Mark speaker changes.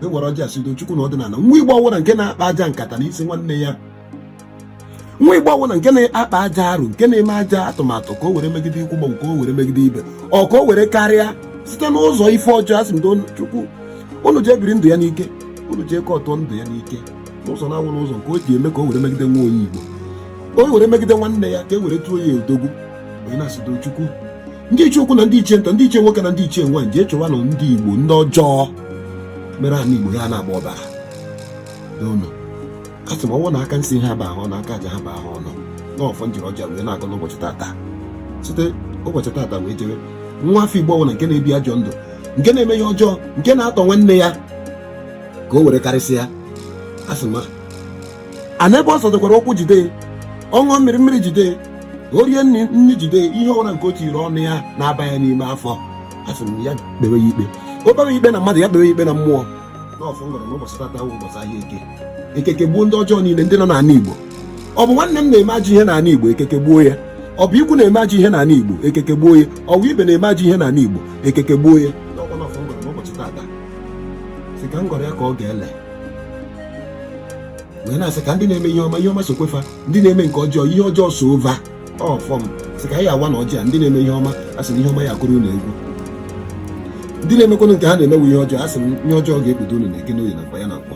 Speaker 1: e were ọjị asido chukwu na ọdịnala nwa igbo ọwụla nke na-akpa ajọ nkata na isi nwanne ya nwa igbo ọwụla nke na-akpa ajọ arụ nke na-eme ajọ atụmatụ ka o were megide ikwu mgbanwe ka o were megide ibe ọ ka o were karịa site n'ụzọ ife ọjọọ asị m chukwu unu jee biri ndụ ya n'ike unu ji eke ọtọ ndụ ya n'ike n'ụzọ na-awụ n'ụzọ nke o ji eme ka o were megide nwa onye igbo o were megide nwanne ya ka e were tụọ ya odogwu onye na-asịdo chukwu ndị ichie ukwu na ndị ichie nta ndị ichie nwoke na ndị ichie nwaanyị jee chọwanụ ndị igbo ndị ọjọọ mere ana igbo ya na-agba ọbara n'ụlọ a sị m ọ wụ na aka nsị ha ba ahụ na aka aja ha ba ahụ ọnụ n'ọfọ m jiri ọjị a wee na-agọ n'ụbọchị tata site ụbọchị tata wee jere nwa afọ igbo ọbụla nke na-ebi ajọ ndụ nke na-eme ihe ọjọọ nke na-atọ nwanne ya ka o were karịsịa a sị ma a na ebe ọ zọdokwara ụkwụ jide ọ ṅụọ mmiri mmiri jide o rie nri nri jide ihe ọbụla nke o tinyere ọnụ ya na-aba ya n'ime afọ asị m ya kpewe ya ikpe o kpewe ya ikpe na mmadụ ya kpewe ya ikpe na mmụọ n'ọfọ m gọrọ n'ụbọchị tata wụ ụbọchị ahịa eke eke kegbuo ndị ọjọọ niile ndị nọ n'ala igbo ọ bụ nwanne m na-eme ajọ ihe n'ala igbo eke kegbuo ya ọ bụ ikwu na-eme ajọ ihe n'ala igbo eke kegbuo ya ọ bụ ibe na-eme ajọ ihe n'ala igbo eke kegbuo ya n'ọkwa n'ọfọ m gọrọ n'ụbọchị tata si ka m gọrọ ya ka ọ ga-ele wee na-asị ka ndị na-eme ihe ọma ihe ọma sokwe fa ndị na-eme nke ọjọọ ihe ọjọọ soo fa ọfọ m sị ka anyị awa na ọjị a ndị na-eme ihe ọma a sị na ihe ọma ya akụrụ unu egwu ndị na-emekwanụ nke ha na-emewe ihe ọjọọ a sị na ihe ọjọọ ga-ekpute unu na eke n'oye na afọ ya na nkwọ